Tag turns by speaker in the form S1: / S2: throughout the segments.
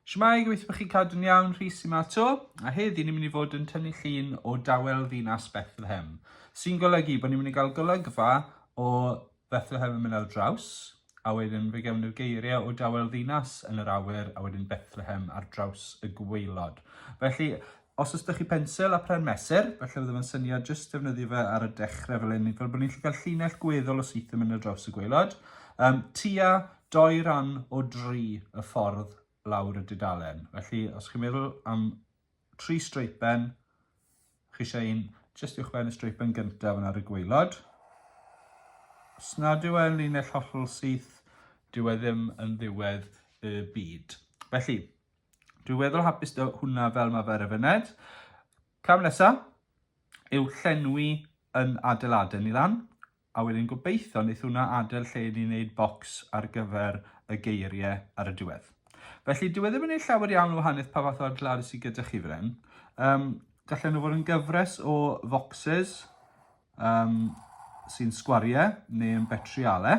S1: Shwmae, gobeithio bod chi'n cadw'n iawn, Rhys yma to, a heddi ni'n mynd i fod yn tynnu llun o dawel ddinas Bethlehem, sy'n golygu bod ni'n mynd i gael golygfa o Bethlehem yn mynd ar draws, a wedyn fe gewn ni'r geiriau o dawel ddinas yn yr awyr, a wedyn Bethlehem ar draws y gweilod. Felly, os ysdych chi pensel a pren mesur, felly fydde fe'n syniad jyst defnyddio fe ar y dechrau fel hyn, fel bod ni'n gallu cael llinell gweddol o syth yn mynd ar draws y gweilod, um, tua doi ran o dri y ffordd lawr y dudalen. Felly, os chi'n meddwl am tri streipen, chi eisiau un jyst uwchben y streipen gyntaf yna ar y gweilod. Os nad yw e'n linell hollol syth, dyw e ddim yn ddiwedd y byd. Felly, dwi'n weddol hapus dy hwnna fel mae fe ar y fyned. Cam nesaf yw llenwi yn adeiladau ni lan. A wedyn gobeithio neith hwnna adel lle i ni neud bocs ar gyfer y geirie ar y diwedd. Felly dyw e ddim yn neud llawer iawn o wahaniaeth pa fath o adladu sy gyda chi fan hyn. Um, gallen nhw fod yn gyfres o focsys um, sy'n sgwariau neu yn betriale.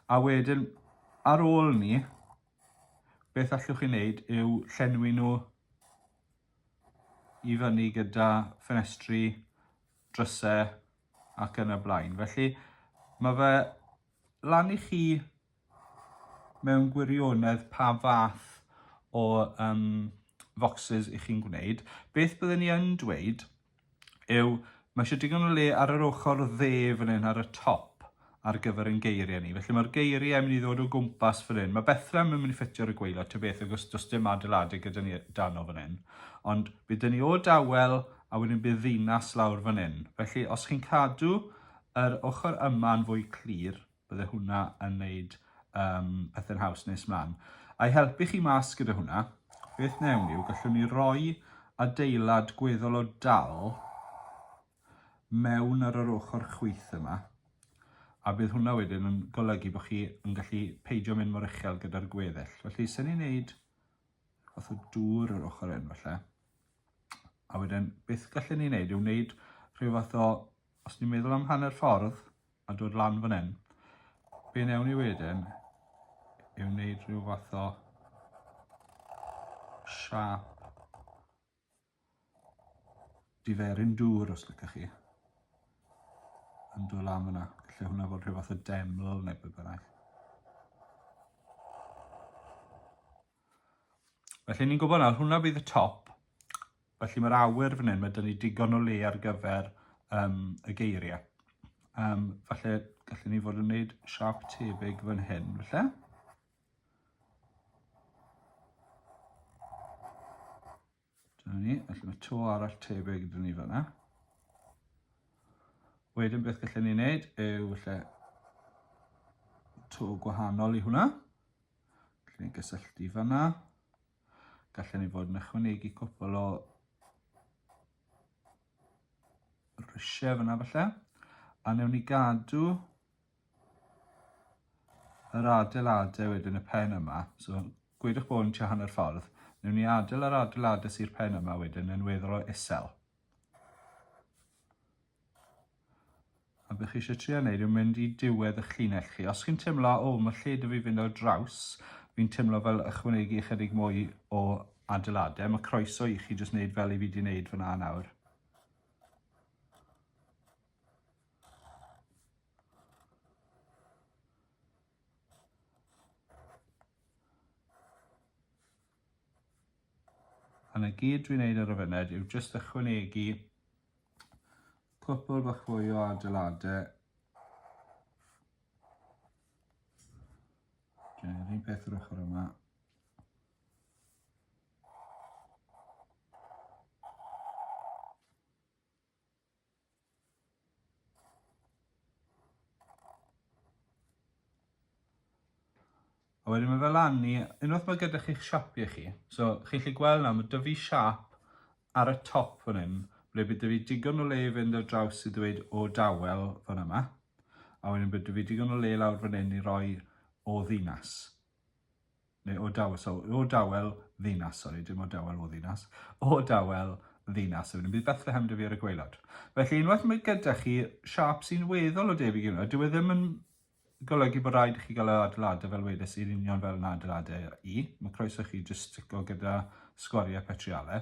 S1: A wedyn ar ôl ni, beth allwch chi wneud yw llenwi nhw i fyny gyda ffenestri drysau ac yn y blaen. Felly mae fe lan i chi mewn gwirionedd pa fath o um, foxes i chi'n gwneud. Beth byddwn ni yn dweud yw mae eisiau digon o le ar yr ochr dde fan hyn ar y top ar gyfer ein geiriau ni. Felly mae'r geiriau yn mynd i ddod o gwmpas fan hyn. Mae Bethlehem yn mynd i ffitio ar y gweilod, ta beth, agos does dim adeiladu gyda ni dan o fan hyn. Ond bydd dyn ni o dawel a wedyn bydd ddinas lawr fan hyn. Felly os chi'n cadw yr ochr yma'n fwy clir, bydde hwnna yn neud um, pethau'n haws nes mlaen. A'i helpu chi mas gyda hwnna, beth newn ni yw gallwn ni roi adeilad gweddol o dal mewn ar yr ochr chwith yma, a bydd hwnna wedyn yn golygu bod chi yn gallu peidio mynd mor uchel gyda'r gweddill. Felly, sy'n ni'n neud fath o dŵr yr ochr hyn falle, a wedyn beth gallen ni wneud yw wneud rhyw fath o, os ni'n meddwl am hanner ffordd a dod lan fan hyn, be newn ni wedyn yw wneud rhyw fath o siap Diferyn dŵr os lycach chi. Yn dod lan fyna. Lle hwnna fod rhyw fath o deml neu beth bynnag. Felly ni'n gwybod nawr, hwnna bydd y top. Felly mae'r awyr fan hyn, mae dyn ni digon o le ar gyfer um, y geiriau. Um, falle gallwn ni fod yn gwneud siap tebyg fan hyn, felly. Dyna ni, felly mae to arall tebyg iddyn ni fanna. Wedyn beth gallwn ni wneud yw felly to gwahanol i hwnna. Gallwn ni gysylltu fanna. Gallwn ni fod yn ychwanegu cwpl o rhysiau fanna falle. A newn ni gadw yr adeiladau wedyn y pen yma, so gwydwch bod yn tua hanner ffordd, newn ni adael yr adeiladau sy'r pen yma wedyn yn weddol o isel. A bych chi eisiau trio wneud yw mynd i diwedd eich llinell chi. Os chi'n teimlo, o, mae lle dwi fi fynd o draws, fi'n teimlo fel ychwanegu ychydig mwy o adeiladau, mae croeso i chi jyst wneud fel i fi wedi wneud fyna nawr. A na gyd dwi'n neud ar y funud yw jyst ychwanegu cwpl bach fwy o adeiladau. Dwi'n un peth yr ochr yma. A wedyn mae fe lan i, unwaith mae gyda chi'ch siapiau chi, so chi'n gallu gweld nawr, mae dy fi siap ar y top fan hyn, ble bydd dy fi digon o le i fynd ar draws i ddweud o dawel fan yma, a wedyn bydd dy fi digon o le lawr fan hyn i roi o ddinas. Neu o dawel, so o dawel ddinas, sori, dim o dawel o ddinas, o dawel ddinas, so bydd Bethlehem dy fi ar y gweilod. Felly unwaith mae gyda chi siap sy'n weddol o debyg i hwnna, dyw e ddim yn golygu bod rhaid i chi gael yr adeiladau fel wedes i'n union fel yn adeiladau i. Mae croeso chi jyst stico gyda sgwariau petriale.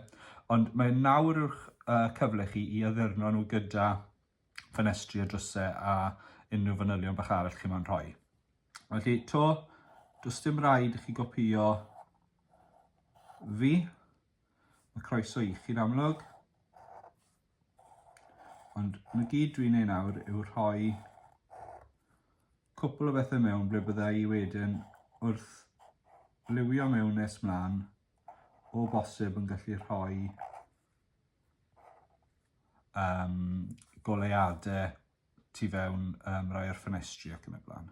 S1: Ond mae nawr yw'ch uh, cyfle chi i addurno nhw gyda ffenestri a drysau a unrhyw fanylion bach arall chi mo'n rhoi. Felly, to, does dim rhaid i chi gopio fi. Mae croeso i chi'n amlwg. Ond na gyd dwi'n ei nawr yw rhoi cwpl o bethau mewn ble bydda i wedyn wrth liwio mewn nes mlaen o bosib yn gallu rhoi um, goleuadau tu fewn um, rai o'r ffenestri ac yn y blaen.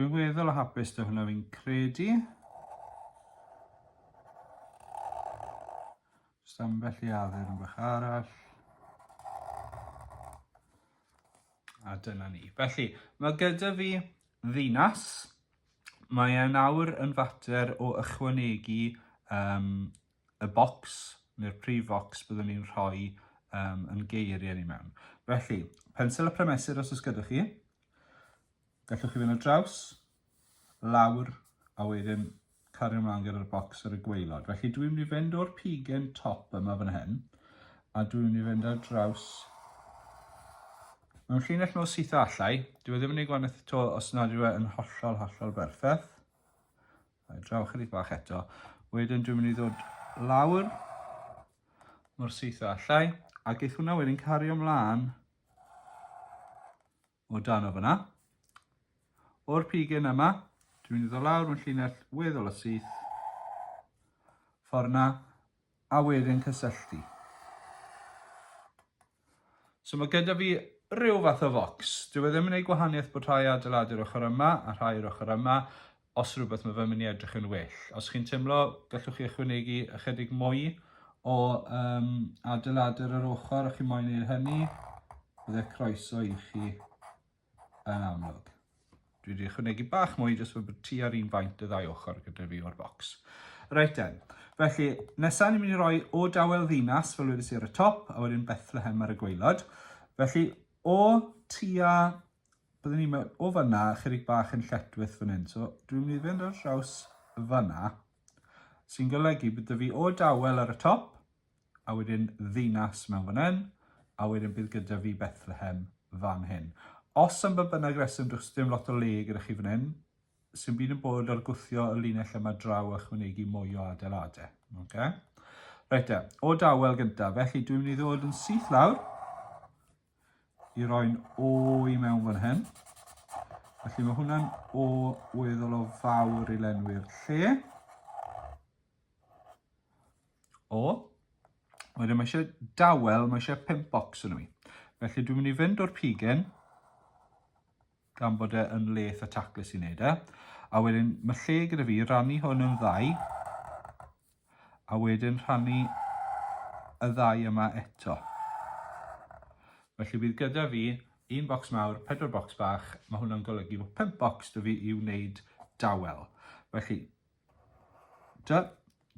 S1: Dwi'n weddol o hapus da hwnna fi'n credu. Just ambell i addurn bach arall. A dyna ni. Felly, mae gyda fi ddinas. Mae e'n awr yn fater o ychwanegu um, y bocs neu'r prif focs byddwn ni'n rhoi um, yn geiriau ni mewn. Felly, pensel y prymesur os oes gyda chi, gallwch chi fynd o draws, lawr, a wedyn cario ymlaen gyda'r bocs ar y gweilod. Felly dwi'n mynd i fynd o'r pigen top yma fan hyn, a dwi'n mynd i fynd ar draws mewn llinell mor syth allai. Dwi e ddim yn ei gwanaeth to os nad yw e yn hollol, hollol berffaith. Rhaid draw chydig bach eto. Wedyn dwi'n mynd i ddod lawr mor syth o allai. A geith hwnna wedyn cario mlaen o dan o fyna. O'r pigen yma, dwi'n mynd i ddod lawr mewn llinell weddol o syth. Ffordd na, a wedyn cysylltu. So mae gyda fi rhyw fath o fox. Dyw e ddim yn gwneud gwahaniaeth bod rhai adeiladu'r ochr yma a rhai yr ochr yma, os rhywbeth mae fe'n mynd i edrych yn well. Os chi'n teimlo, gallwch chi ychwanegu ychydig mwy o um, adeiladur yr ochr a chi moyn gwneud hynny, byddai croeso i chi yn amlwg. Dwi wedi ychwanegu bach mwy jyst fod ti ar un faint y ddau ochr gyda fi o'r bocs. Reit den, felly nesaf ni'n mynd i roi o dawel ddinas fel wedi si ar y top a wedyn Bethlehem ar y gweilod. Felly o tua, byddwn ni'n mynd o fyna chydig bach yn lletwyth fan hyn. So dwi'n mynd i fynd ar draws fyna sy'n golygu bod fi o dawel ar y top a wedyn ddinas mewn fan hyn, a wedyn bydd gyda fi Bethlehem fan hyn. Os am ba bynnag reswm, does dim lot o le gyda chi fan hyn, sy'n byd yn bod ar gwthio y linell yma draw a chwynegu mwy o adeiladau. Okay? Reit e, o dawel gyntaf, felly dwi'n mynd i ddod yn syth lawr i roi'n o i mewn fan hyn. Felly mae hwnna'n o weddol o fawr i lenwi'r lle. O, wedyn mae eisiau dawel, mae eisiau pimp bocs yn y mi. Felly dwi'n mynd i fynd o'r pigen, gan bod e yn leth a taclus i wneud e. A wedyn mae lle gyda fi rannu hwn yn ddau, a wedyn rhannu y ddau yma eto. Felly bydd gyda fi un bocs mawr, pedwar bocs bach, mae hwnna'n golygu bod pimp bocs da fi i wneud dawel. Felly, Dw,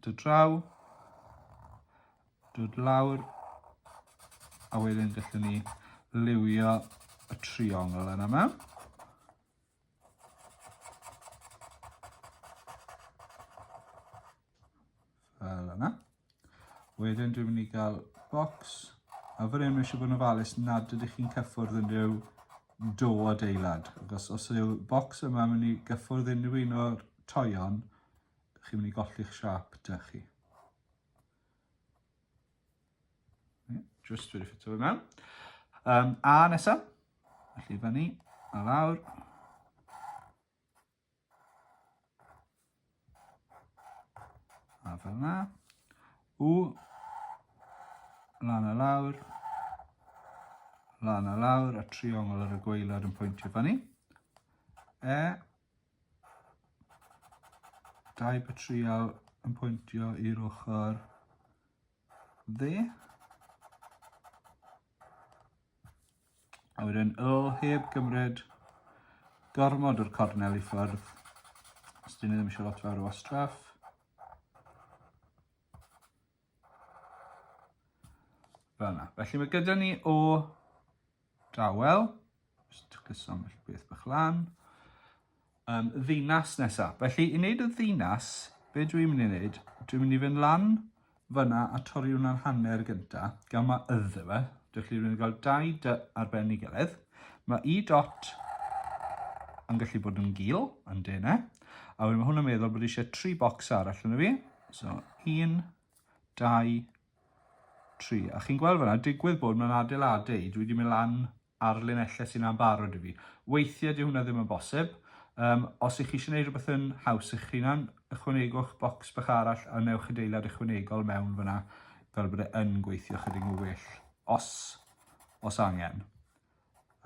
S1: dw draw, dw lawr, a wedyn gallwn ni liwio y triongl yna mewn. Fel yna. Wedyn dwi'n mynd i gael bocs a fan hyn mae eisiau bod yn ofalus nad ydych chi'n cyffwrdd unrhyw do adeilad. Achos os yw'r bocs yma yn mynd i gyffwrdd unrhyw un o'r toion, chi'n mynd i golli'ch siap da chi. Just wedi ffitio fe mewn. Um, a nesaf, felly fyny a lawr. A fel yna. U. Lan a lawr. Lan a lawr a triongl ar y gweilad yn pwyntio fyny. E. Dau batrial yn pwyntio i'r ochr dde. A wedyn o heb gymryd gormod o'r cornel i ffwrdd. Os dyn ni ddim eisiau lot fawr o wastraff. Fel yna. Felly mae gyda ni o Dawel, just twcyso ambell beth bach lan. Um, ddinas nesa. Felly, i wneud y ddinas, be dwi'n mynd i wneud? Dwi'n mynd i fynd lan fyna a torri hwnna'n hanner gynta, gan mae ydde fe. Dych chi'n mynd i gael dau dy ar ben i gilydd. Mae i dot yn gallu bod yn gil, yn dene. A wedyn mae hwnna'n meddwl bod eisiau tri bocs arall yn y fi. So, un, dau, tri. A chi'n gweld fanna, digwydd bod mewn adeiladu, dwi wedi mynd lan ar linellau sy'n ambarod i fi. Weithiau di hwnna ddim yn bosib. Um, os ych chi eisiau gwneud rhywbeth yn haws eich hunan, ychwanegwch bocs bach arall a newch adeilad ychwanegol mewn fyna fel bod e yn gweithio chydig o well, os, os angen.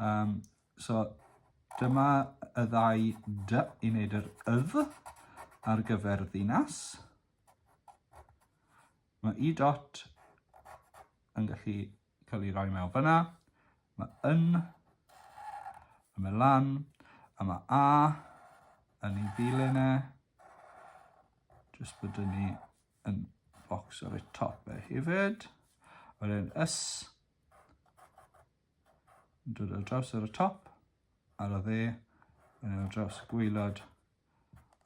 S1: Um, so, dyma y ddau dy i wneud yr ydd ar gyfer ddinas. Mae y dot yn gallu cael ei roi mewn fyna. Mae yn, a mae lan, a mae a yn ei ddilyn e. Jyst bod yn ni yn bocs ar y top e hefyd. Wedyn ys, yn dod ar draws ar y top, ar y dde, yn dod ar draws y gwylod,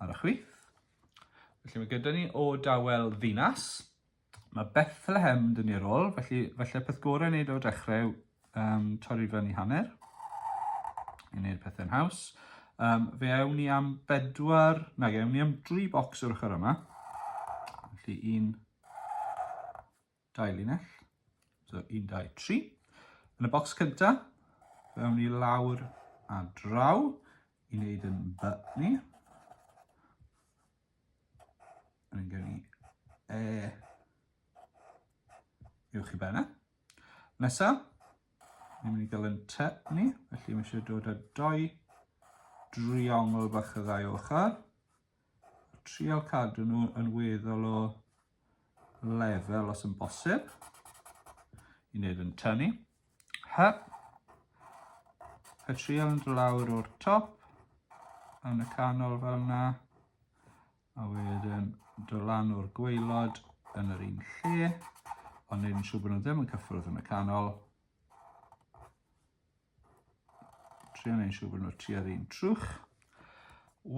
S1: ar y chwith. Felly mae gyda ni o dawel ddinas. Mae Bethlehem yn dyn ni ar ôl, felly felly peth gorau wneud o'r dechrau um, torri fan i hanner i wneud pethau'n haws. Um, fe awn ni am bedwar, na, fe awn ni am dri bocs o'r ochr yma. Felly un, dau linell, so 1, 2, 3. Yn y bocs cynta, fewn ni lawr a draw i wneud yn by ni. Yn gen i e uwch i benna. Nesa, ni'n mynd i gael yn te ni, felly mae eisiau dod â doi driongl bach y ddau ochr. Trial cadw nhw yn weddol o lefel os yn bosib. I wneud yn tynnu. Hyp. A trial yn lawr o'r top. Yn y canol fel yna. A wedyn do lan o'r gweilod yn yr un lle. Ond neud yn siŵr bod nhw ddim yn cyffwrdd yn y canol. Trio neud siŵr bod nhw tua'r un trwch.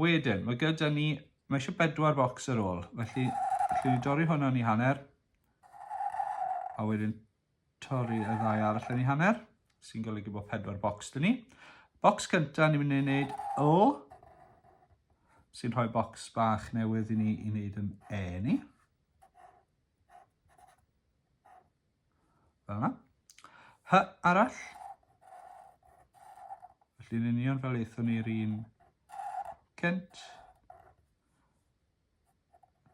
S1: Wedyn, mae gyda ni, mae eisiau bedwar bocs ar ôl, felly allwn ni dorri hwnna ni hanner, a wedyn torri y ddau arall yn ei hanner, sy'n golygu bod pedwar bocs dyn ni. Bocs cyntaf ni'n mynd i wneud O, sy'n rhoi bocs bach newydd i ni i wneud yn E ni. Fel yna. Hy arall. Felly yn union fel eithon ni'r un cent.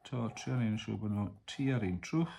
S1: To, trio ni'n siŵr bod nhw tu ar un trwch.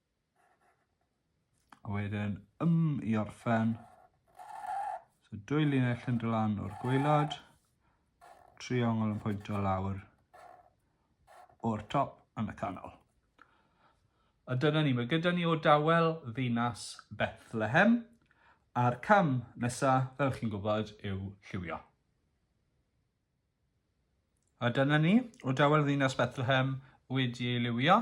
S1: A wedyn ym i orffen. So dwy linell yn dod lan o'r gweilad, triongl yn pwyntio lawr o'r top yn y canol. A dyna ni, mae gyda ni o dawel ddinas Bethlehem, a'r cam nesaf, fel chi'n gwybod, yw lliwio. A dyna ni, o dawel ddinas Bethlehem wedi ei liwio.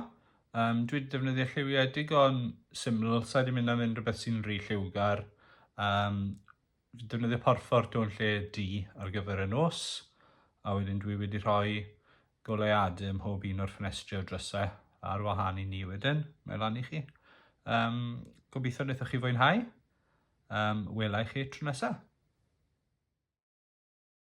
S1: Um, dwi wedi defnyddio lliwiau digon syml, sa'i wedi mynd am unrhywbeth sy'n rhy lliwgar. Um, fi defnyddio porfforto yn lle di ar gyfer y nos, a wedyn dwi wedi rhoi goleuadau ym mhob un o'r ffenestri o drysau ar wahân i ni wedyn, mae lan i chi. Um, gobeithio wnaethoch chi fwynhau. Um, wela i chi tro nesaf.